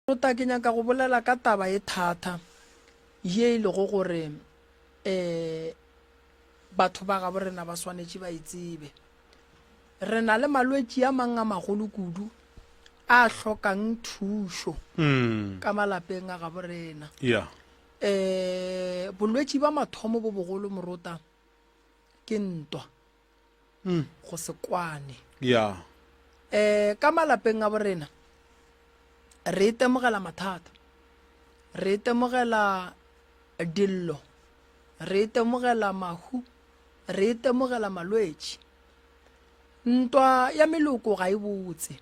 Tota ke nyaka go bolela ka taba e thata ye e lego gore um batho ba gabo rena ba swanetše ba e tsebe. Re na le malwetši a mang a magolo kudu a hlokang thušo hmm. ka malapeng a gabo rena. Yeah. Eh bolwetši ba mathomo bo bogolo morota ke ntwa. mm. go se kwane yeah. um ka malapeng a borena re itemogela mathata re itemogela dillo re itemogela mahu re itemogela malwetši ntwa ya meloko ga e botse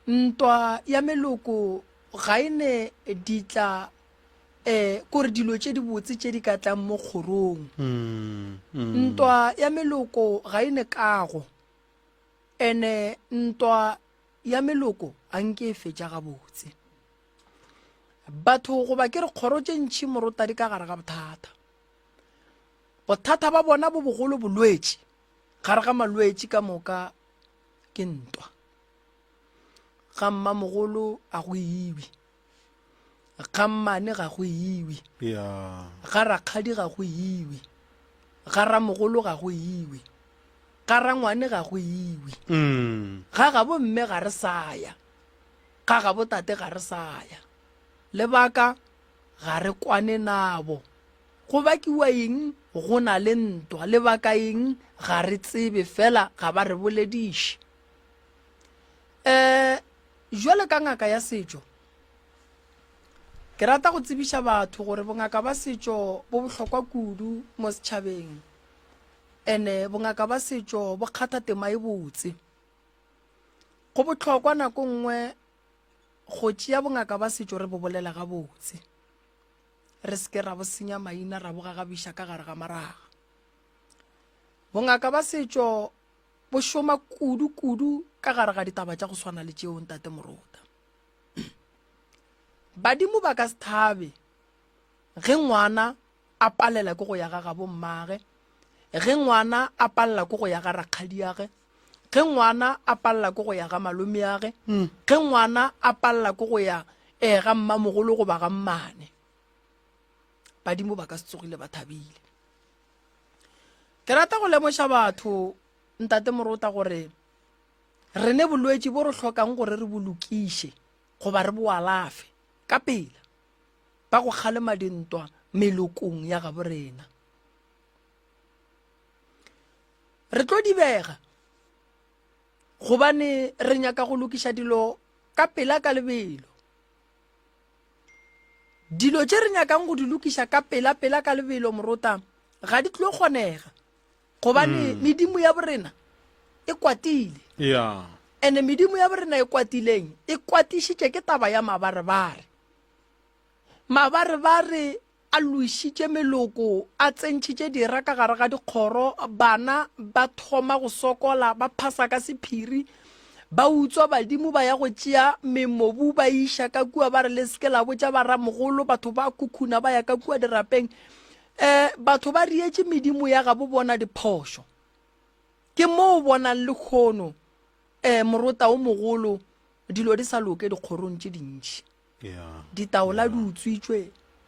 ntwa ya meloko ga e ne ditla um kore dilo tše dibotse tše di ka tlang mo kgorong. Ntwa ya meloko ga e ne kago, ene ntwa ya meloko ga nke e fetša gabotse. Batho goba ke re kgoro tše ntšhi morota di ka gare ga bothata. Bothata ba bona bo bogolo bolwetši, gare ga malwetši ka moka ke ntwa. Ga mmamogolo a go ibi. ga mmane ga go iwe ga rakgadi ga go iwe ga ramogolo ga go iwe ga rangwane ga go iwe mm. ga gabo mme ga re saya ga gabo tate ga re saya lebaka ga re kwane nabo go bakiwa eng go na le ntwa lebaka eng ga re tsebe fela ga ba re bolediše um jwale ka ngaka ya setšo ke rata go tsebiša batho gore bongaka ba setšo bo bohlokwa kudu mo setšhabeng ene bongaka ba setšo bo kgatha tema e botse go bohlokwa nako nngwe go tšea bongaka ba setšo re bo bolela gabotse re seke ra bo senya maina ra bo gagabiša ka gare ga maraga bongaka ba setšo Bo šoma kudu-kudu ka gare ga ditaba tša go swana le tšeo, Ntate Morota. Badimo ba ka se thabe ge ngwana a palela ke go ya ga gabo mmage, ge ngwana a palela ke go ya ga rakgadiage, ge ngwana a palela ke go ya ga malomeage, hmm. ge ngwana a palela ke go ya um ga mmamogolo goba ga mmane. Badimo ba ka se tsogile ba thabile. ke rata go lemoša batho ntate morota gore re ne bolwetši bo re hlokang gore re bolokiše goba re boalafe ka pela ba go kgalema dintwa melokong ya gabo rena re tlo dibega gobane re nyaka go lokiša dilo ka pela ka lebelo dilo tše re nyakang go di lokiša ka pela-pela ka lebelo morota ga di tlo kgonega gobane mm. medimo ya borena e kwatile yeah. ene medimo ya borena e kwatileng e kwatišitše ke taba ya mabarebare mabarebare a loišitše meloko, a tsentšhitše dira ka gare ga dikgoro, bana ba thoma go sokola, ba phasa ka sephiri, ba utswa badimo ba ya go tšea memobu ba iša ka kua ba re le seke la botša ba ramogolo batho ba khukhuna ba ya ka kua dirapeng eh batho ba rietše medimo ya gabo bona diphošo ke moo bonang le kgono eh morota o mogolo dilo di sa loke dikgorong tše dintši Ditaola di utswitšwe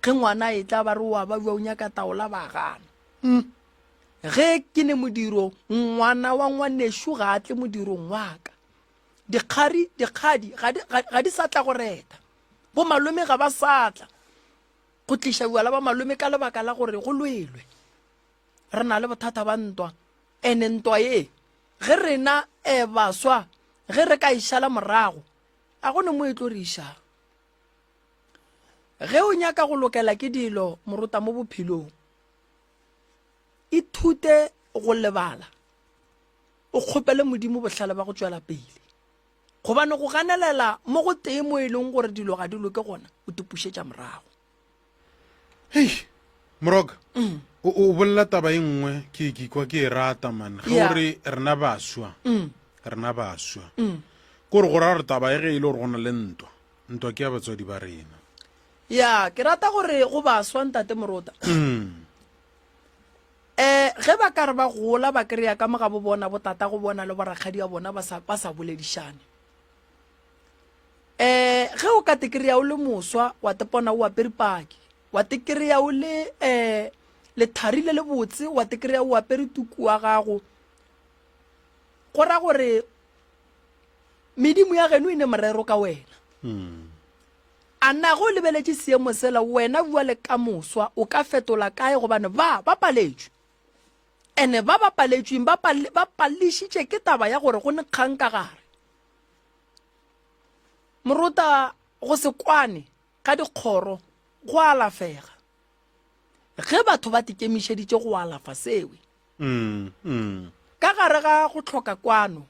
ge ngwana e tla ba re wa ba jwa o nyaka taola ba gana mm. ge ke ne modiro ngwana wa ngwanešu ga a tle modirong waka dikgari dikgadi ga di sa tla go reta bo malome ga ba sa tla go tliša bjala ba malome ka lebaka la gore go lwelwe re na le bothata ba ntwa ene ntwa ye ge rena um baswa ge re ka e šala morago A go ne mo etloriša? Ge o nyaka go lokela ke dilo morota mo bophelong, ithute go lebala, o kgopele Modimo bohlale ba go tšwela pele. Gobane go ganelela mo go tee mo e leng gore dilo ga di loke gona o tipušetša morago. hei moroka mm. o, o bolela taba e nngwe ke ke kwa ke e rata man ge yeah. ore rena baswa mm. rena baswa mm. kore go ra gore taba e ge e le gore go na le ntwa ntwa ke ya batswadi ba rena ya ke rata gore go baswa ntate morota um ge ba ka re ba gola ba kry-a ka mo ga bo bona botata go bona le borakgadi ya bona ba sa boledišane eh ge o ka tekereya o le moswa wa tepona o apere paki wa tekereya o le eh lethari le le botse wa tekereya o apere tuku wa gago go ra gore medimo ya geno e ne morero ka wena hmm. a na go lebeletše seemo sela wena bua le ka moswa o ka fetola kae gobane ba ba paletšwe ene ba ba paletšweng ba palešitše ke taba ya gore go ne kgang ka gare Moruta go se kwane ga dikgoro go alafega ge batho ba tikemišeditše go alafa sewe. Mm, mm. Ka gare ga go tlhoka kwano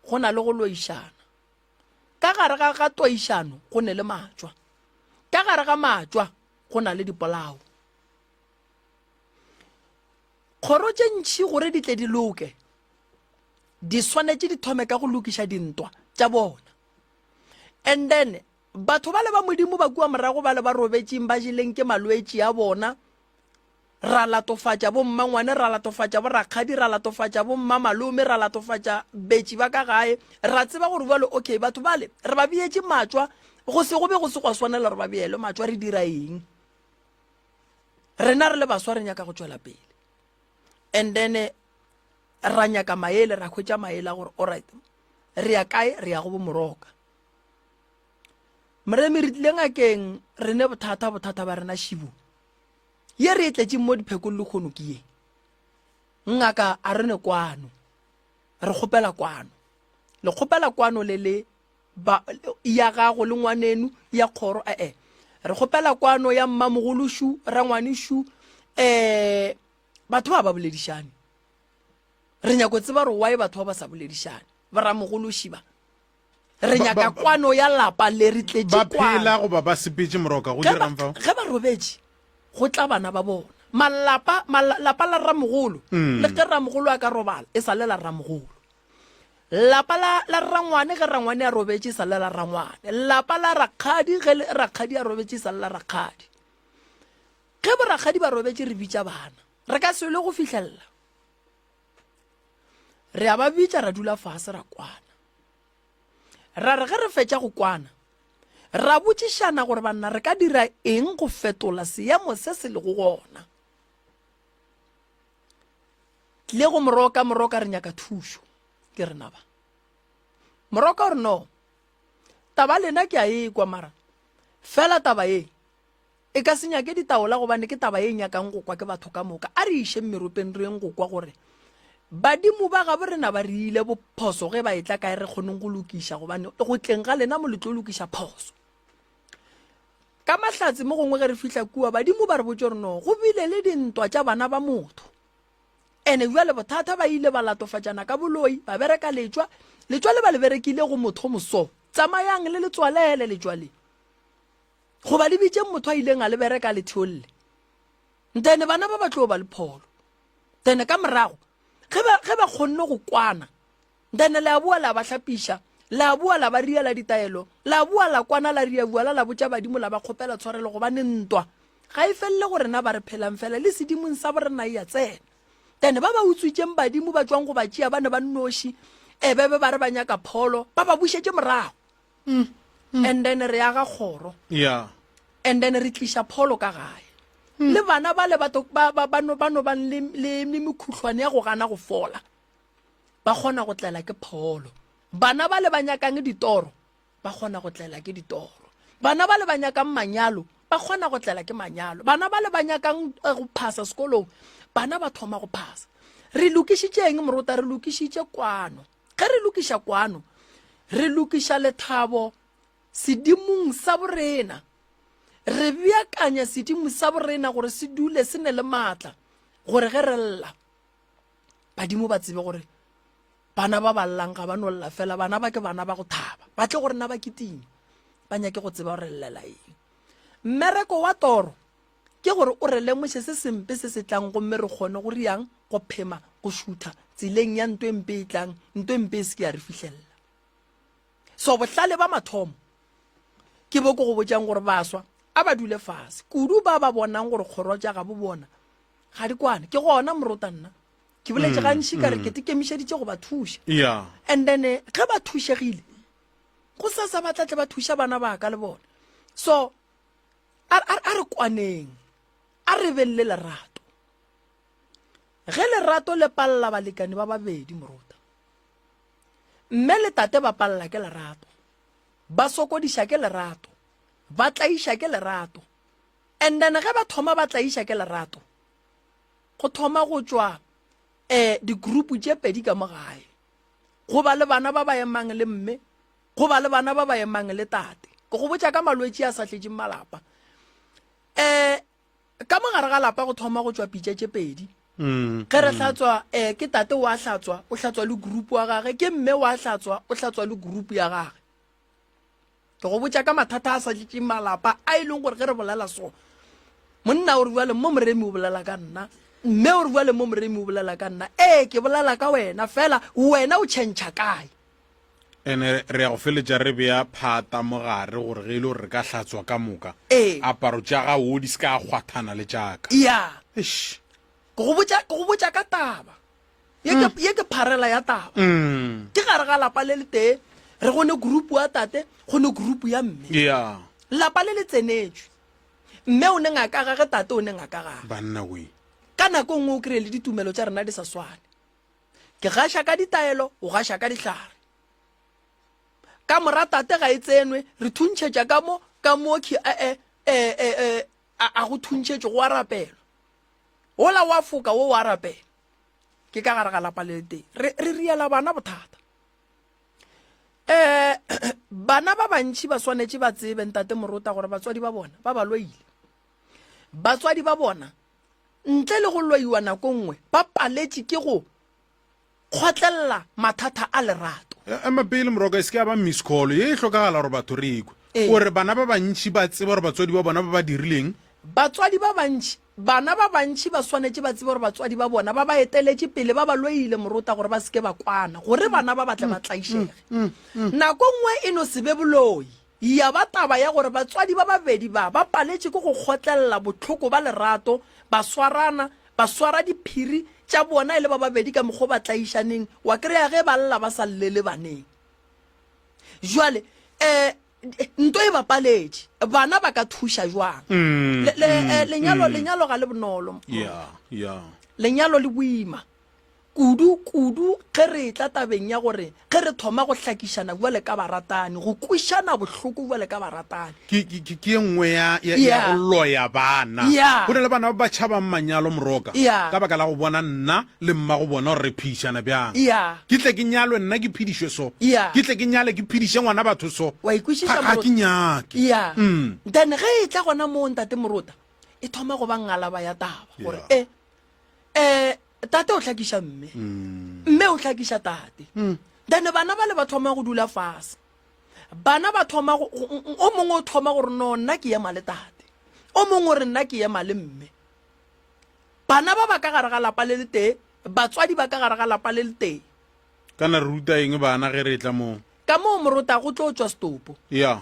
go na le go loišana. Ka gare ga ga toišano go ne le matšwa. Ka gare ga matšwa go na le dipolao. Kgoro tše ntšhi gore di tle di loke di swanetše di thome ka go lokiša dintwa tša bona and then batho ba le ba modimo ba kua morago ba le ba robetšeng ba jeleng ke malwetši a bona ra latofatša bommangwane ra latofatša borakgadi ra latofatša bommamalome ra latofatša betši ba ka gae ra tseba gore bjale okay batho bale re ba beetše matswa go se go be go se gwa swanela gore ba beelwe matswa re dira eng rena re le baswa re nyaka go tšwela pele and then eh, ra nyaka maele ra hwetša maele a gore alright re ya kae re ya go bomoroka moremi re tlile ngakeng re ne bothata bothata ba rena šibo ye re e tletseng mo diphekong le kgono ke ye ngaka a re ne kwano re kgopela kwano le kgopela kwano le le ba, ya gago le ngwanenu ya kgoro ee eh. re kgopela kwano ya mmamogolo shu rangwane shu um eh, batho ba ba boledišane re nyako tseba gore wae batho ba ba sa boledišane baramogolo šiba re nyaka kwano ya lapa le re tletše kwanophela goba ba sepetse moroka go dirang fa ge ba robetše go tla bana ba bona malapa malapa la ramogolo mm. le ge ramogolo a ka robala e sa le la ramogolo Lapa la, la rrangwane ge rrangwane a robetše sa le la rrangwane. Lapa la rakgadi ge le, rakgadi a robetše sa le la rakgadi. Ge borakgadi ba robetše re bitša bana. Re ka swele go fihlelela. Re a ba bitša ra dula fase ra kwana. Ra re ge re fetša go kwana ra botšišana gore banna re ka dira eng go fetola seemo se se lego gona. tlile go moroka moroka re nyaka thušo ke rena ba moroka gore no taba lena ke a e kwa mara fela taba e e ka se nyake ditaola gobane ke taba e nyakang go kwa ke batho ka moka a re išeng meropeng reng go kwa gore badimo ba gabo rena ba re ile bophoso ge ba e tla kae re kgoneng go lokiša gobane go tleng ga lena mo le tlo lokiša phoso Ka mahlatse mo gongwe ge re fihla kua, badimo ba re botse gore no go bile le dintwa tša bana ba motho. Ene bjale bothata ba ile ba latofatšana ka boloi, ba bereka letšwa, letšwa le ba le berekile go motho moso. Tsamayang le letswalele letšwa le. Goba le bitšeng motho a ileng a le bereka le theolle. Ntene bana ba ba tlo ba le pholo. Ntene ka morago, ge ba kgonne go kwana, Then le a boa la ba hlapiša, la a boa la ba riela ditaelo, la a boa la kwana la ria vuala la botša badimo la ba kgopela tshwarelo gobane ntwa ga e felele go rena ba re phelang fela le sedimong sa borena e a tsena. Then ba ba utswitšeng badimo ba tšwang go ba tšea ba ne ba nnoši ebe be ba re ba nyaka pholo ba ba bušetše morago. Mm. Mm. And then re aga kgoro. Yeah. And then re tliša pholo ka gae. Mm. Le bana ba le ba ba ba no ba no bang le le mekhuhlwane ya go gana go fola. ba kgona go tlela ke pholo bana ba le ba nyakang ditoro ba kgona go tlela ke ditoro bana ba le ba nyakang manyalo ba kgona go tlela ke manyalo bana ba le ba nyakang eh, go phasa sekolong bana ba thoma go phasa re lokišitšeng morota re lokišitše kwano ge re lokiša kwano re lokiša lethabo sedimong sa borena re beakanya sedimo sa borena gore se dule se ne le maatla gore ge re lla badimo ba tsebe gore bana ba ba llang ga ba no lla fela bana ba ke bana ba go thaba ba tle gore na ba kiting ba nyake go tseba gore llela eng mmereko wa toro ke gore o re lemoše se sempe se se tlang gomme re kgone go riang go phema go šutha tseleng ya nto e mpe e tlang nto e mpe e se ke ya re fihlelela so bohlale ba mathomo ke bo ko go botšang gore baswa a ba dule fase kudu ba ba bonang gore kgoro tša ga bo bona ga di kwane ke gona morota nna ke boletse mm, gantši ka re mm. ke tekemišeditše go ba thuša and then eh, ge ba thušegile go sa sa batla tle ba thuša bana ba ka le bone so a re kwaneng a re beng le lerato ge lerato le palela balekane ba babedi morota mme le tate ba palela ke lerato ba sokodiša ke lerato ba tlaiša ke lerato And then ge ba thoma ba tlaiša ke lerato go thoma go tšwa um digroup tše pedi ka mo gae go ba le bana ba ba emang le mme go ba le bana ba ba emang le tate ke go botša ka malwetši a sa tletšeng malapa um ka mo gare ga lapa go thoma go tšwa pitša tše pedi mm, ge re mm. hlatswa um ke tate wa hlatswa o hlatswa le group wa gage ke mme wa hlatswa o hlatswa le group ya gage ke go botša ka mathata a sa tletšeng malapa a e leng gore ge re bolela so monna o re bjale mo moremi o bolela ka nna mme o re bjale mo moremi o bolela ka nna ee ke bolela ka wena fela wena o tšhentšha kae ene re ya go feletša re beya phata mo gare gore ge e le gore re ka hlatswa ka moka ee. aparo tša ga o di se ka kgwathana le tšaka ya ke go botša ka taba ye ke ye ke pharela ya taba Mm. ke gare ga lapa le le tee re go ne group wa tate go ne group ya mme Yeah. lapa le le tsenetswe mme o ne ngaka gage tate o ne ngaka gage Banna we. ka nako nngwe o kry le ditumelo tša rena di sa swane ke gaša ka ditaelo o gaša ka dihlare ka mora tate ga e tsenwe re thuntšhetša ka mo ka mo khe ee ee ee a a go thuntšhetše go a rapelwa Wola wa foka wo wa rapela. Ke ka gare ga lapa le le tee. Re, re riela bana bothata. Eh, bana ba bantši ba swanetše ba tsebe ntate morota gore batswadi ba bona ba ba lwaile. Batswadi ba bona ntle le go lwaiwa nako nngwe ba paletše ke go kgotlelela mathata a lerato e, ema pele moroko e se ke ya ba miss call ye e hlokagala gore batho re ekwe ee. gore bana ba bantšhi ba tseba gore batswadi ba bona ba ba dirileng batswadi ba bantši bana ba bantši ba swanetše ba tsebe gore batswadi ba bona ba ba eteletše pele ba ba loile morota gore ba seke ba kwana gore bana ba batle ba mm, mm, tlaišege mm, nako nngwe e no se be boloi Ya ba taba ya gore batswadi ba babedi ba ba paletše ke go kgotlelela bohloko ba lerato, ba swarana, ba swara diphiri tša bona e le ba babedi ka mokgwa o ba tlaišaneng, wa kry-a ge ba lla ba sa llele baneng. Jwale eh, nto e ba paletše, bana ba ka thuša jwang? Mm, le, le, mm, eh, lenyalo, mm. lenyalo ga le bonolo. Yeah, yeah. Lenyalo le boima. kudu kudu ge re etla tabeng ya gore ge re thoma go hlakišana bjale ka baratani, go kwišana bohloko bjale ka baratani. Ke, ke, ke, ke ye nngwe ya, ya, ya Yeah. go loya bana. Yeah. Go na le bana ba ba tšhabang manyalo, Moroka, Yeah. ka baka la go bona nna le mma go bona gore re phedišana bjang. Yeah. Ke tle ke nyalwe nna ke phedišwe so. Yeah. Ke tle ke nyale ke phediše ngwana batho so. Wa e kwešiša, Ga, ga Morota? ke nyake. Yeah. Mm. Then ge e tla gona moo, Ntate Morota, e thoma go ba ngalaba ya taba, gore Yeah. e, eh, tate o tlhakiša mme mm. mme o tlhakiša tate mm. then bana ba le ba thoma go dula fase bana ba thoma o mongwe o thoma gore no nna ke ema le tate o mongwe o re nna ke ema le mme bana ba ba ka gare ga lapa le le tee batswadi ba ka gare ga lapa le le tee Kana re ruta eng bana ge re etla moo? Ka moo morota go tlo tšwa setopo. Ya.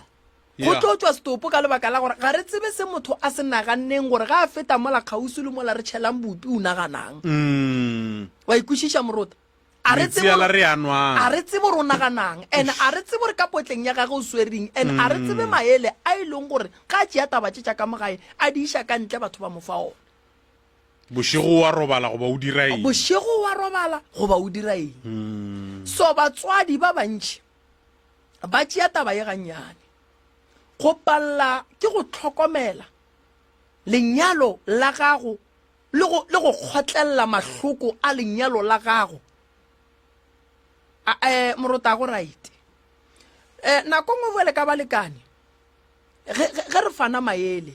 Go tlo tšwa setopo ka lebaka la gore ga re tsebe se motho a se naganneng gore ga a feta mola kgauswi le mola re tšhelang bupi o naganang. Wa ikwešiša morota? A re tsebe Metsiala re a nwang. a re tsebe gore o naganang and a re tsebe gore ka potleng ya gage o swereng and a re tsebe maele a e leng gore ga a tšea taba tše tša ka mo gae a di iša ka ntle batho ba mo fa ona. bošego wa robala goba o dira eng bošego wa robala goba o dira eng hmm. so batswadi ba bantši ba tšea taba ye gannyane go palela ke go tlhokomela lenyalo la gago le go kgotlelela mahloko a lenyalo la gago um morota go right um nako ngwe bjale ka balekane ge re fana maele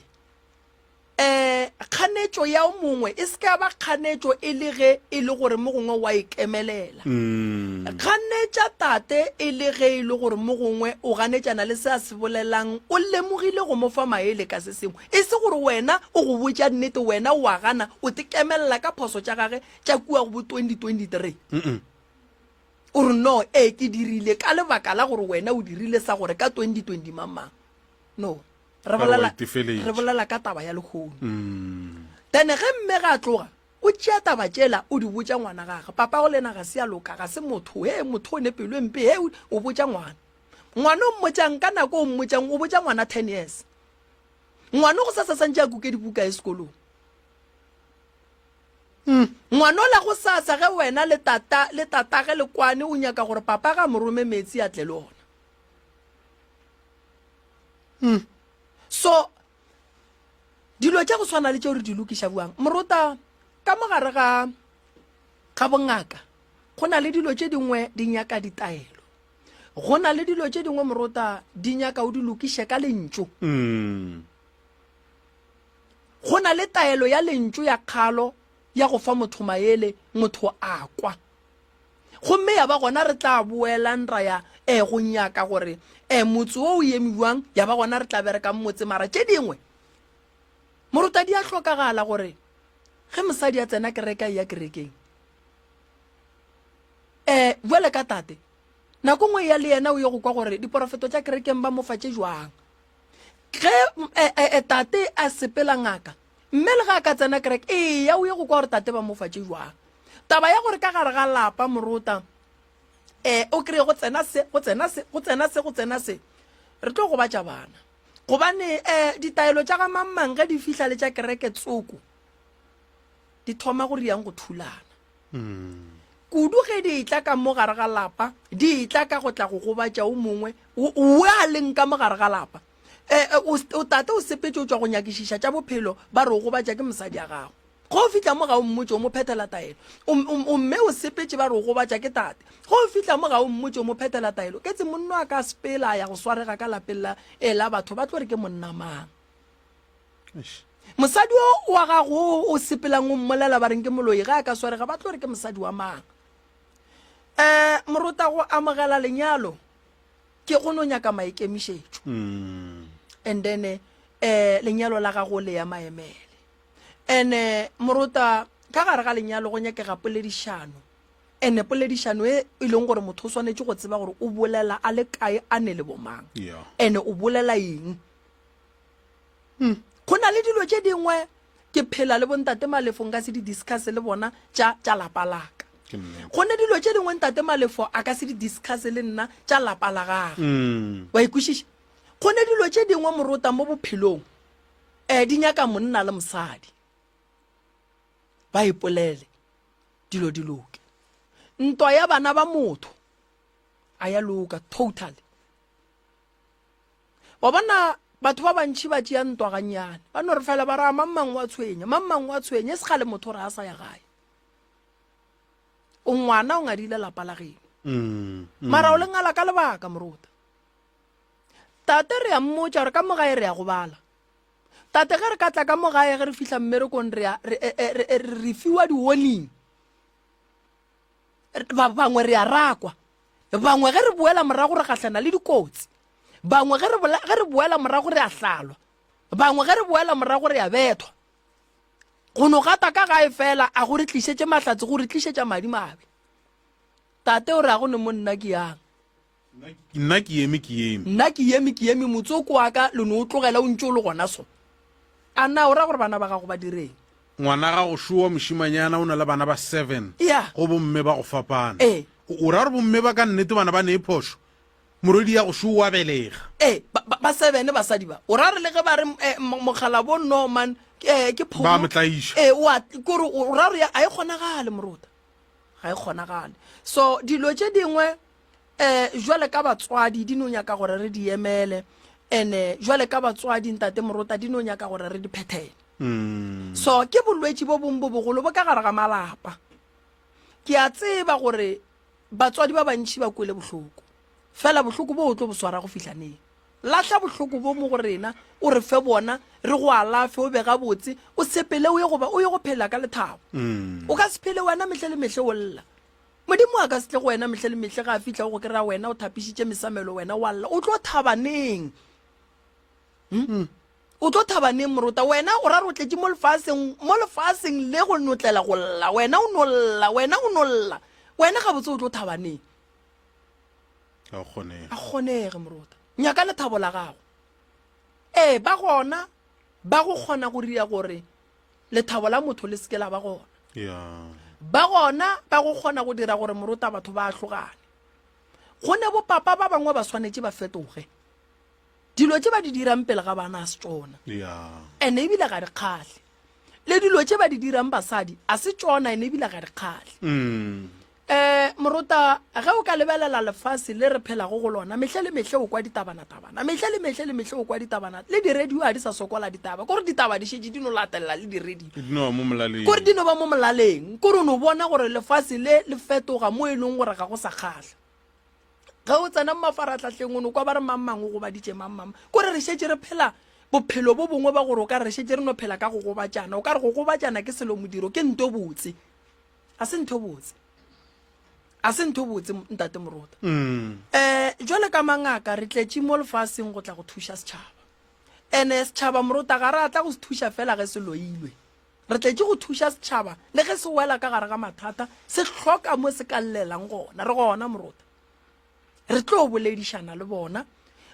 um kganetšo ya o mongwe e se ka ba kganetšo e le ge e le gore mo gongwe wa ikemelela mm. kganetša tate e le ge e le gore mo gongwe o ganetšana le se a se bolelang o lemogile go mo fa maele ka se sengwe e se gore wena o go botša nnete wena o a gana o tikemelela ka phoso tša gage tša kua go bo 2023 mm -mm. o re no ee ke dirile ka lebaka la gore wena o dirile sa gore ka 2020 mamang no re bolela re bolela ka taba ya lekgono mm. then ge mme ga tloga o tšea taba tšela o di botša ngwana gage papa go lena ga se ya loka ga se motho he motho o ne pelo e mpe he o botša ngwana ngwana o mmotšang ka nako o mmotšang o botša ngwana ten years ngwana go sa sa santse a kuke dibuka e sekolong hmm. ngwana o la go sasa ge wena le tata le tatage le kwane o nyaka gore papa ga morome metsi a tle le ona mm. so dilo tša go tshwana le tšeo re di lokiša buang morota ka mogare ga ga bongaka go na le dilo tše dingwe di nyaka ditaelo go na le dilo tše dingwe morota di nyaka o di lokiše ka lentšu mm. go na le taelo ya lentšu ya kgalo ya go fa motho maele motho a kwa Gomme ya ba gona re tla boelang ra ya eh, go nyaka gore eh, motse wo o eme bjang, ya ba gona re tla bereka motse. Mara tše dingwe, morota di a hlokagala gore ge mosadi a tsena kereke a ya kerekeng eh bjale ka tate nako ngwe ya le yena o ye go kwa gore diporofeto tša kerekeng ba mofa tše jwang ge eh, eh, eh, tate a sepela ngaka mme le ga a ka tsena kereke eya o ye go kwa gore tate ba mo fatše jwang taba ya gore ka gare ga lapa morota um o kry-e go tsena se go tsena se go tsena se go tsena se re tlo gobatša bana gobane um ditaelo tša ga mangmang ge di fihla le tša kereke tsoko di thoma go riyang go thulana kudu ge di etla ka mo gare ga lapa di etla ka go tla go gobatša o mongwe o a leng ka mo gare ga lapa eh, eh, o o tata o sepetse o tswa go nyakišiša tša bophelo ba re o gobatša ke mosadi ya gago go o fitlha mo ga o mmotse o mo phethela taelo O- o- o mme o sepetse ba re o gobatša ke tate go o fitlha mo ga o mmotse o mo phethela taelo ke tse monno a ka sepela a ya go swarega ka lapeng la e la batho ba tlo re ke monna mang Eish. mosadi o wa gago o o sepelang o mmolela ba reng ke moloi ga a ka swarega ba tlo re ke mosadi wa mang um morota go amogela lenyalo ke go no nyaka maikemišetšo and then eh lenyalo la gago le ya maemele ene morota ka gare ga lenyalo go nyakega poledišano ene poledišano e e leng gore motho o swanetše go tseba gore o bolela a le kae a ne le bomang Yeah. ene o bolela eng hmm. go na le dilo tše dingwe ke phela le bontate malefo nka se di discuss le bona tša tša lapa laka go ne dilo tše dingwe ntate malefo a ka se di discuss le nna tša lapa la gage mm. wa ikwešiša go ne dilo tše dingwe morota mo bophelong um di nyaka monna le mosadi ba ipolele dilo di loke ntwa ya bana ba motho a ya loka totally wa bona batho ba bantšhi ba tšea ntwa gannyane ba no re fela ba raa mammang wa tshwenya mammang wa tshwenya e se gale motho re a sa ya gae o ngwana o ngadile lapa la geno mm, mm. mara o le ngala ka lebaka moruta tate re ya mmotša gore ka mogae re ya go bala tate ge re ka tla ka mogae ge re fihla mmerekong re e, e, e, re fiwa di-warning ba bangwe re a rakwa bangwe ge re boela morago re gahlana le dikotsi bangwe ge re boela morago re a hlalwa bangwe ge re boela morago re a bethwa go no gata ka gae fela a go re tlišetše mahlatse go re tlišetša madi mabe tate o re a go ne monna ke yang Nna ke eme ke eme. Nna ke eme ke eme motsoko wa ka lo ne o tlogela o ntše o le gona so. A na o ra gore bana ba gago ba direng? Ngwana ga go šowa mošimanyana o na le bana ba seven yeah. go bomme ba go fapana eh. o ra gore bomme ba ka nnete bana ba ne e phošo morwedi ya go šowa wa belega eh, ba, ba, ba seven basadi ba o ra gore le ge ba re eh, mokgalabo norman eh, ke phomo ba motlaiša eh, wa kore o ra gore a e kgonagale morota ga e kgonagale so dilo tše dingwe um jwale ka batswadi di no nyaka gore re di emele ene jwale ka batswadi ntate morota di no nyaka gore re di phethele mm. so ke bolwetši bo bong bo bogolo bo ka gare ga malapa ke a tseba gore batswadi ba bantšhi ba kwele bohloko fela bohloko bo o tlo bo swara go fihla neng lahla bohloko bo mo go rena o re fe bona re go alafe o be ga botse o sepele o ye goba o ye go phela ka lethabo mm. o ka se phele wena mehle le mehle o lla Modimo a ka se tle go wena mehla le mehle ga a fihla go go kry-a wena o thapišitše mesamelo wena wa lla o tlo thabaneng hmm? hmm. o tlo thabaneng morota wena o ra re o tletše mo lefaseng mo lefaseng le go notlela go lla wena o nolla wena o nolla wena ga botse o tlo thabaneng a kgonege morota nyaka lethabo la gago ee ba gona ba go kgona go ria gore lethabo la motho le seke la ba gona ba gona ba go kgona go dira gore morota batho ba ahlogane go ne bopapa ba bangwe ba swanetše ba fetoge dilo tše ba di dirang pele ga bana a se tsona ene ebile ga di kgahle le dilo tše ba di dirang basadi a se tsona ene ebile ga di kgahle mm. Eh, morota, ge o ka lebelela lefase le re phelago go lona, mehle le mehle o kwa ditabana-tabana, mehle le mehle le mehle o kwa ditabana, le diredio ga di sa sokola ditaba, kore ditaba di šetše di no latelela le diredio, Ke dino ba mo molaleng. kore di no ba mo molaleng, kore o no bona gore lefase le le fetoga mo e leng gore ga go sa kgahla. Ge o tsena mo mafarahlahleng o no kwa ba re mang mang o gobaditše mang mang, kore re šetše re phela bophelo bo bongwe ba gore o ka re re šetše re no phela ka go gobatšana, o ka re go gobatšana ke selo modiro, ke nto botse. a se ntho botse a se ntho botse ntate morota um jwale ka mangaka re tletše mo lefaseng go tla go thuša setšhaba ene setšhaba morota ga re atla go se thuša fela ge se loilwe re tletše go thuša setšhaba le ge se wela ka gare ga mathata se hloka mo se ka llelang gona re gona morota re tlo boledišana le bona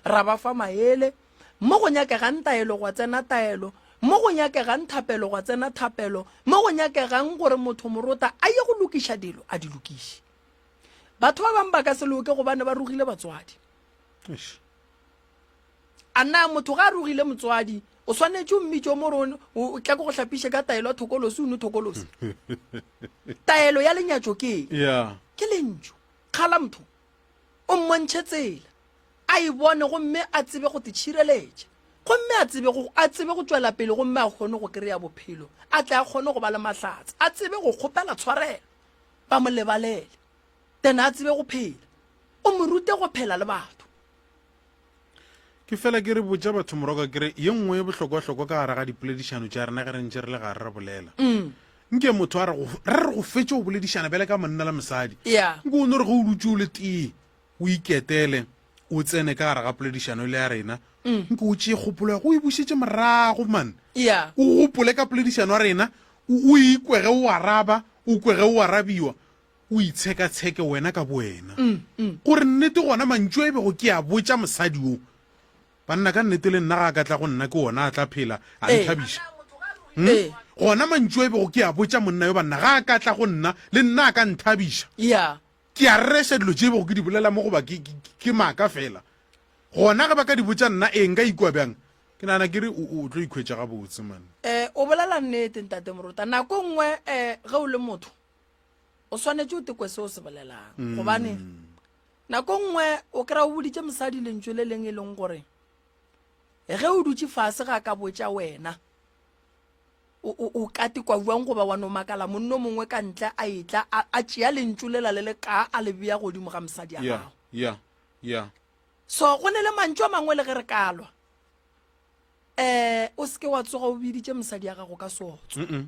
ra ba fa maele mo go nyakegang taelo gwa tsena taelo mo go nyakegang thapelo gwa tsena thapelo mo go nyakegang gore motho morota a ye go lokiša dilo a di lokiše batho ba bangwe ba ka se loke gobane ba rogile batswadi a na motho ga a rogile motswadi o swanetše o mmitso mo rone o tla ko go hlapiše ka taelo ya thokolosi o ne thokolosi taelo ya lenyatso ke ke lentso Kgalampho o mmontšhe tsela a e bone gomme a tsebe go titšhireletša gomme a tsebe go a tsebe go tšwela pele gomme a kgone go kry-a bophelo a tle a kgone go ba le mahlatse a tsebe go kgopela tshwarelo ba mo lebalele then a tsebe go phela o mo rute go phela le batho ke fela ke re botša batho moroko kere ye nngwe e bohlokwahlokwa ka gara ga dipoledišano tša rena ge re ntše re le gare re bolela mm. nke motho a re re go fetše go boledišana bjale ka monna le mosadi nke o no re ge o dutse o le tee o iketele o tsene ka gara ga poledišano e le ya rena mm. nke o tšee kgopolo ya go e bušetse morago man o gopole ka poledišano ya rena o ikwege o araba o kwege o arabiwa o itshekatsheke wena ka bowena gore nnete gona mantšu a e bego ke a botša mosadi o banna ka nnete le nna ga a ka tla go nna ke ona a tla phela a Ee. nthabiša Hmm? Ee. gona mantšu a e bego ke a botša monna yo banna ga a ka tla go nna le nna a ka nthabiša ya ke a rereša dilo tše e bego ke di bolela mo goba ke- ke ke maaka fela gona ge ba ka di botša nna ee nka ikwa bjang ke nagana ke re o o tlo ikhwetša gabotse man um o bolela nnete ntate morota nako e nngwe um ge o le motho o swanetše o tekwe se o se bolelang mm. gobane nako nngwe o kry-a o boditše mosadi lentso le leng e leng gore ge o dutse fase ga ka botša wena o ka tekwa buang goba wa no makala monno mongwe ka ntle a etla a tšea lentso le la le le ka a le bea godimo ga mosadi ya gago yeah, yeah. so go ne le mantso a mangwe le ge re kalwa um o seke wa tsoga o biditše mosadi ya gago ka sotswa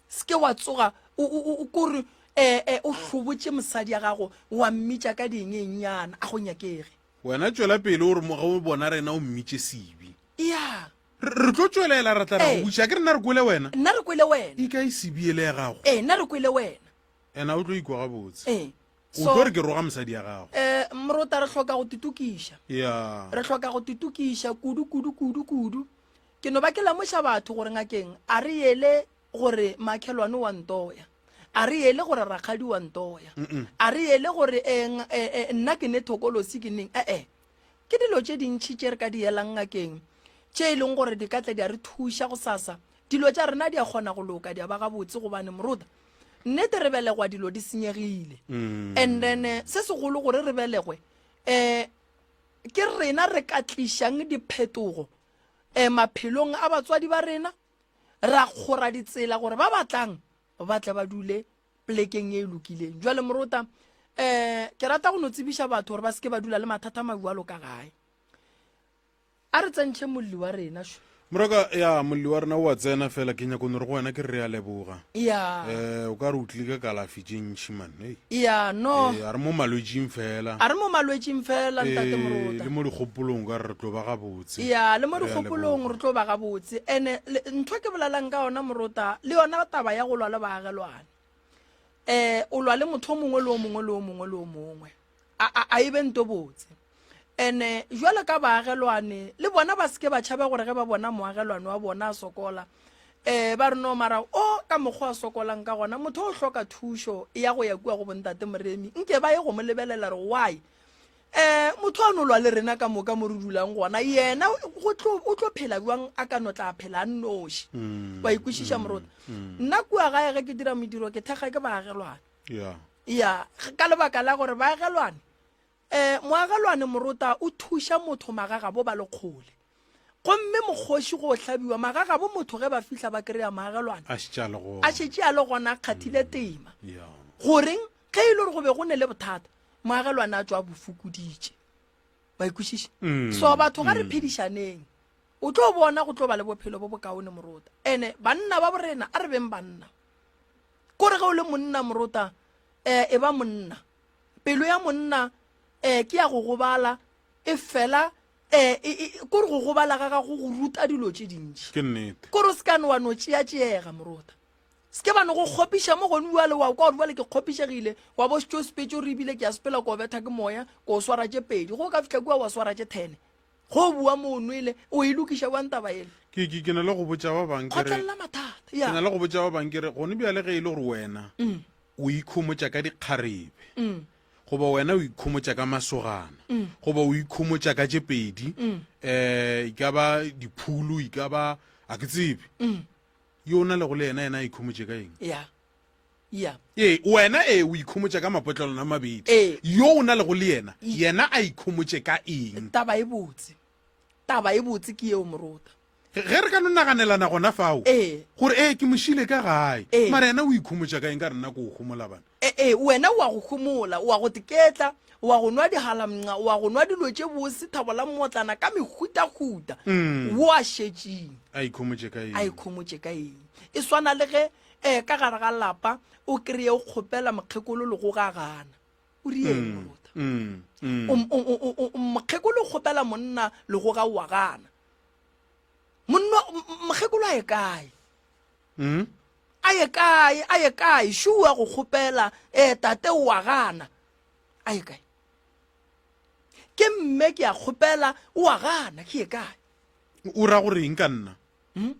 se ke wa tsoga o kore ee eh, o hlobotše mosadi ya gago wa mmitša ka diengenyana a go nyakege wena tšwela pele o re moge o bona rena o mmitše sebe ya re tlo tšwelela ra tla ra go butša ke rena re kwele wena nna re kwele wena ika e sebiele ya gago ee nna re kwele wena ena o tlo ikwa gabotse ee o tlo re ke roga mosadi ya gago eh mrota re hloka go titokiša ya re hloka go titokiša kudu kudu kudu kudu Ke no ba ke lemoša batho gore ngakeng a re yele gore makhelwane wa ntoya a re yele gore rakgadi wa ntoya a re yele gore eh, eh, eh, nna ke ne thokolosi ke neng ee eh, ke dilo tše dintšhi tše re ka di yelang ngakeng tše e leng gore di ka tla di a re thuša go sasa dilo tša rena di a kgona go loka di a ba gabotse gobane moruta nnete re belegwa dilo di senyegile mm. and then eh, se segolo gore re belegwe um ke rena re ka tlišang diphetogo um maphelong a batswadi ba rena ra kgora ditsela gore ba batlang ba tle ba dule plekeng e e lokileng jwale morota um ke rata go no tsebiša batho gore ba seke ba dula le mathata mabjalo ka gae a re tsentšhe molli wa rena moraka ya molli wa rena o a tsena fela ke nyako nore go wena ke re a leboga ya um o ka re o tlile ka kalafi tše ntšhi man hey. ya no Eh, a re mo malwetsing fela a re mo malwetsing fela ntate Eh, moruta le mo dikgopolong ka re re tlo ba gabotse ya le mo Re a dikgopolong leboga. re tlo ba gabotse ene le- ntho ke bolelang ka yona morota le yona taba ya go lwa le baagelwane um o lwa le motho o mongwe le o mongwe le o mongwe le o mongwe a e be nto botse ene jwalo ka baagelwane le bona ba seke ba tšhabe gore ge ba bona moagelwane wa bona a sokola um ba re no mara o ka mokgwa a sokolang ka gona motho o hloka thušo ya go ya kua go bontate moremi nke ba ye go mo lebelela re why um motho a nolwa le rena ka moka mo re dulang gona yena o tlo phela jwang a ka no tla phela a nnoši mm, wa ikwešiša mm, morota mm. nna kua gae ge ke dira modiro ke thekga ke baagelwane ya ya ka lebaka la gore baagelwane um moagelwane morota o thuša motho magagabo ba le kgole gomme mokgoši go hlabiwa magagabo motho ge ba fihla ba kry-a maagelwane a šetše a le gona a kgathile mm, tema goreng ge e le gore go be go ne le bothata moagelwane a tswa bofokoditše ba ikwešiše mm, so batho ga re mm. phedišaneng o tlo bona go tlo ba le bophelo bo bokaone morota ande banna ba borena a re beng banna kore ge o le monna morota um eh, e ba monna pelo ya monna um eh, ke ya go gobala e fela um kore go gobala ga gago go ruta dilo tše dintšhi ke nnete kore o se kane wa no tšeatšeega morota se ke ba no go kgopiša mo gone uale wa kwa gore bale ke kgopišegile wa bo setšo sepetso re ebile ke ya sepela ko betha ke moya ko o swara tše pedi go ka fitlha kua wa swara tše thene go bua mo o nwele o e lokiša wang taba ele ke ke ke na le go botša ba bang ke re kgotlelela mathata ke ya na le go botša ba bang ke re gone bjale ge e le gore wena Mm, o ikhomotša ka dikgarebe mm, goba wena o ikhomotša ka masogana Mm. goba o ikhomotša ka tše pedi Mm. eh e ka ba diphulu e ka ba a ke tsebe mm, yo o na lego le yena yena a ikhomotše ka eng ya ee wena ee o ikhomotša ka mapotlelwana a mabedi ee. yo o na lego le yena yena a ikhomotše ka eng taba e botse taba e botse ke yeo morota ge re ka no naganelana gona fao ee. gore ee ke mošile ka gae ee. mara yena o ikhomotša ka eng ka re nna ko o gomola bana ee ee wena o a go gomola o a go teketla o a go nwa dihalamnca o a go nwa dilo tše bose thabo la mmotlana ka mehutahuta mm. o a šetšeng a ikhomotše ka eng e swana le ge Ee, ka gare ga lapa o kreye o kgopela mokgekolo legoga a gana. O rieng mm, morota? Mm, mm. Mokgekolo o kgopela monna legoga o a gana. Mokgekolo a ye kae? Mm? A ye kae? A ye kae? Shua go kgopela ee tate o a gana. A ye kae? Ke mme ke a kgopela o a gana ke ye kae? O ra gore eng ka nna? Mm?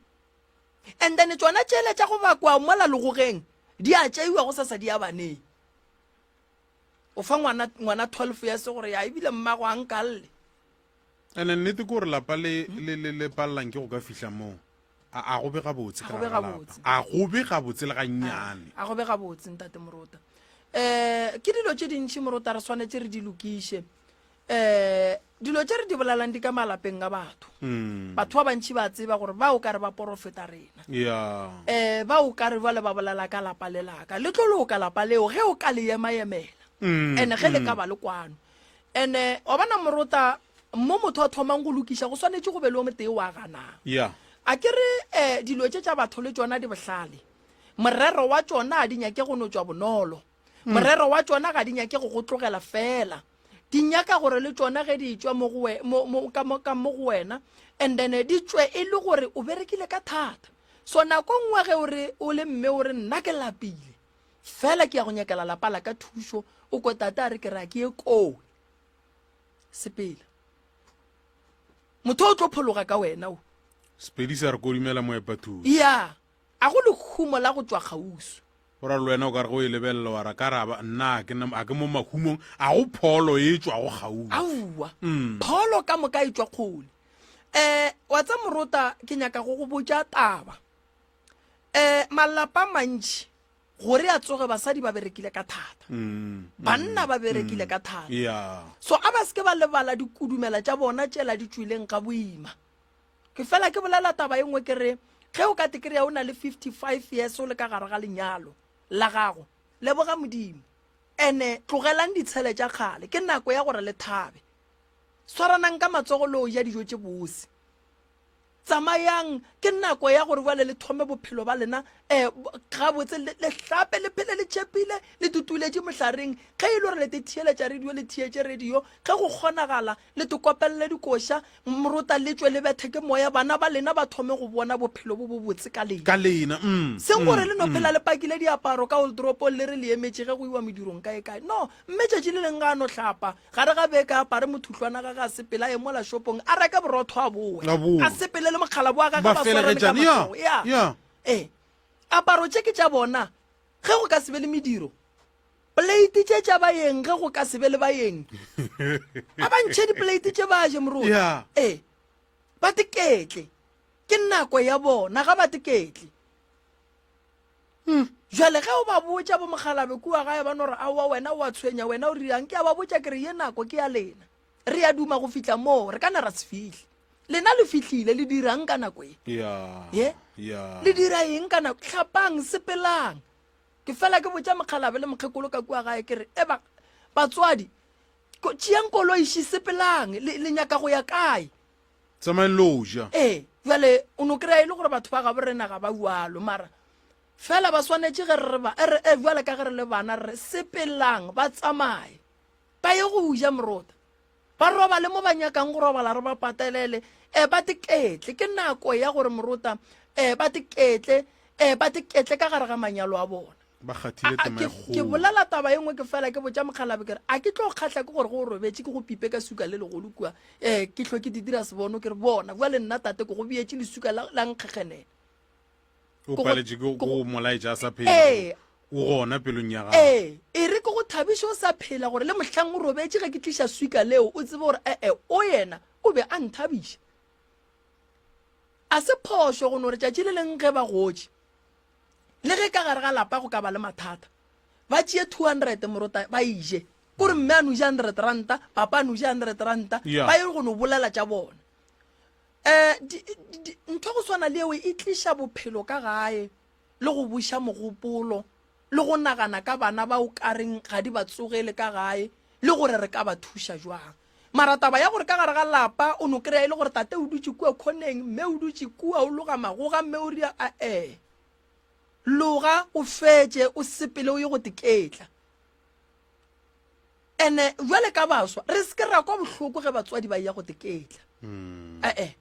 and then tšona tšele tša go bakwa mola legogeng di a tšeiwa go sasa di ya baneng o fa ngwana ngwana 12 ya se gore ya ebile mmago a nkalle and then nnete ke gore lapa le le le le palelang ke go ka fihla moo a a go be gabotse A ka go be gare ga lapa. gabotse. a go be gabotse le gannyane a go be gabotse ntate morota um ke dilo tše dintšhi morota re swanetse re di lokiše eh dilo tše re di bolalang di ka malapeng a batho mm. batho ba bantši ba tseba gore ba o ka re ba porofeta rena yeah. eh ba o ka re bale ba bolela ka lapa le laka le tlo loka lapa leo ge o ka le emaemela mm. ene ge le mm. ka ba le kwano ene wa bona morota mo motho a thomang go lokiša go swanetše go be le o motee wa ganang yeah. a ke re eh dilo tše tša batho le tsona di bohlale morero wa tsona a di nyake go no tswa bonolo mm. morero wa tšona ga di nyake go go tlogela fela di nyaka gore le tšona ge di tšwa mo go wena and then di tšwe e le gore o berekile ka thata so nako e nngwe ge o re o le mme o re nna ke lapile fela ke ya go nyakela lapa la ka thušo o ko tata a re ke ra ke ye koo sepele motho o tlo phologa ka wena o sepedi sa re kodimela moepa thuso ya yeah. A go lehumo la go tšwa kgauswi? O ra le wena o ka re ge o e lebelela wa ra ka ra ba nna a ke na a ke mo mahumong a go pholo e tšwa go gaufi aowa mm. pholo ka moka e tšwa kgole eh wa tsa morota ke nyaka go go botša taba eh malapa mantši gore a tsoge basadi ba berekile ka thata mm, mm, banna ba berekile ka thata yeah. so a ba seke ba lebala dikudumela tša bona tšela di tšwileng ga boima ke fela ke bolela taba e nngwe ke re ge o ka te kry-a o na le 55 years o le ka gare ga lenyalo la gago leboga modimo ene tlogelang ditshele tša kgale ke nako ya gore le thabe swaranang ka matsogo le o ja dijo tše bose tsamayang ke nako ya gore bale le thome bophelo ba lena um gabotse le hlape le phele le tšhepile le tutuletše mohlareng ge e le gore le te theeletša radio le theetše radio ge go kgonagala Le tokopelele dikoša, mrota le tšwe le bethe ke moya, bana ba lena ba thome go bona bophelo bo bobotse ka lena. Ka lena, mm, mm. Seng gore le no phela le pakile diaparo ka oldoropong le re le emetše ge go iwa medirong kaekae. No, mme tšatši le leng ga a no hlapa, gare ga beke a apare mothuhlwana gage a sepele a ye mola shopong a reke borotho a bowe, A bowe. a sepele le mokgalabo wa gage Ba ba swarane ka felegetšane, ya, matsogo. Ya. ya. Ee. Aparo tše ke tša bona. Ge go ka se be le mediro. Plate tše tša bayeng ge go ka se be le bayeng. A ba ntšhe diplate tše ba je moroti. Yeah. E, ba teketle. Ke nako ya bona ga ba teketle. Hmm. Jwale ge o ba botša bo mogalabe kua gae ba no re aowa wena o a tshwenya wena o rirang ke a ba botša ke re ye nako ke ya lena. Re ya duma go fihla moo re ka ne ra se fihle. Lena le fihlile le dirang ka nako e. Yeah. Ye? Yeah. Le dira eng ka nako tlhapang sepelang. ke fela ke botša mokgalabe le mokgekolo ka kua gae ke re e ba batswadi tšeang koloi še sepelang le nyaka go ya kae tsamaeng lo ja ee jale o no kry-a e le gore batho ba gabo rena ga ba ualo mara fela ba swanetše ge re ba ere e jale ka ge re le bana re sepelang ba tsamaye ba ye go ja morota Ba robale mo ba nyakang go robala, re ba patelele. Eh, ba diketle. Ke nako ya gore morota, eh, ba diketle, eh, ba diketle ka gare ga manyalo a bona. ba kgathile A- a- tema e ke- ke kgolo bolela taba e nngwe ke fela ke botša mokgalabe ke re a ke tlo kgatlha ke gore go o robetše ke go pipe ka suka le legolo kua um ke hlwe ke di dira sebono ke re bona bjale nna tate ko go beetše lesuka la la nkgekgenela o paletše ke go molaetša a sa phela ee. o gona pelong ya gago ee e re ke go thabiše o sa phela gore le mohlang o robetše ge ke tliša swika leo o tsebe gore ee o yena o be a nthabiša a se phošo go no re tšatši le leng ge ba gotše le ge ka gare ga lapa go ka ba le mathata ba tšee two hundred morota ba ije kore mme a noja hundred ranta papa a noja hundred ranta ba ye go no bolela tša bona um ntho go swana le eo e tliša bophelo ka gae le go buša mogopolo le go nagana ka bana ba o kareng ga di ba tsogele ka gae le gore re ka ba thuša jwang mara taba ya gore ka gare ga lapa o no kry-a e le gore tate o dutse kua khoneng mme o dutse kua o loga magoga mme o ria a-e loga o fetse o sepele o ye go teketla ene jwale ka baswa re se ke ra kwa bohloko ge batswadi ba ya go teketla mm. ee eh,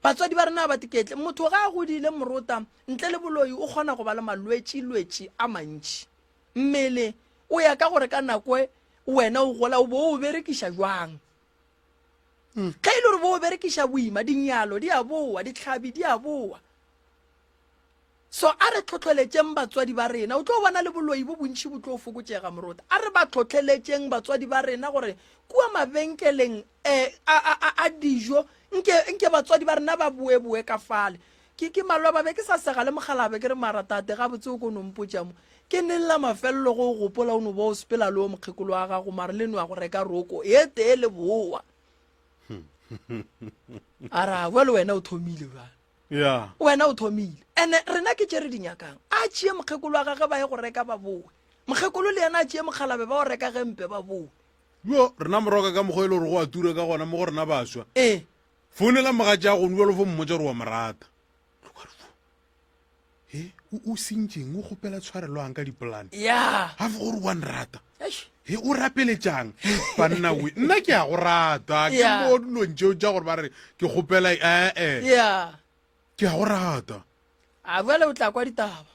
batswadi ba rena ba teketle motho ga a godile morota ntle le boloi o kgona go ba le malwetši-lwetši a mantši mmele o ya ka gore ka nako e, wena o gola o bo o berekiša jwang mm. ge e le gore bo o berekiša boima dinyalo di a boa ditlhabi di a boa So a re tlhotlheletšeng batswadi ba rena. O tlo bona le boloi bo bontši bo tlo fokotšega, morota. A re ba tlhotlheletšeng batswadi ba rena gore kua mabenkeleng eh, a, a, a, a dijo nke, nke batswadi ba rena ba boeboe ka fale. Ke, ke maloba be ke sa sega le mogala be ke re mara tate gabotse o ko no mpotša mo. Ke neng la mafelelo go o gopola o no ba o sepela le o mokgekolo wa gago mare le no ya go reka roko e tee le bowa. A ra, bjale wena o thomile bjale. wena o thomile ene rena ke tše re di nyakang a tšee mokgekolo wa gage ba ye go reka ba bowe mokgekolo le yena a tšee mokgalabe ba o reka ge mpe ba bowe yo rena moroka ka mokgwa e le gore go a tura ka gona mo go rena baswa ee founela mogatša gono bjalo fo mmotsa gore wa morata he o o sentšeng o kgopela tshwareloang ka dipolane ya ga fo gore wa nrata eish he o rapeletšang banna we nna ke a go rata ke Yeah. mo dilong tšeo tša gore ba re ke kgopela ee ya ke a go rata a bjale o tla kwa ditaba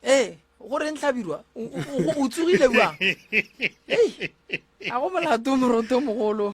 ee gore ntlhabirwa o- o o- o tsogile bjang Ei, a go molato moroto mogolo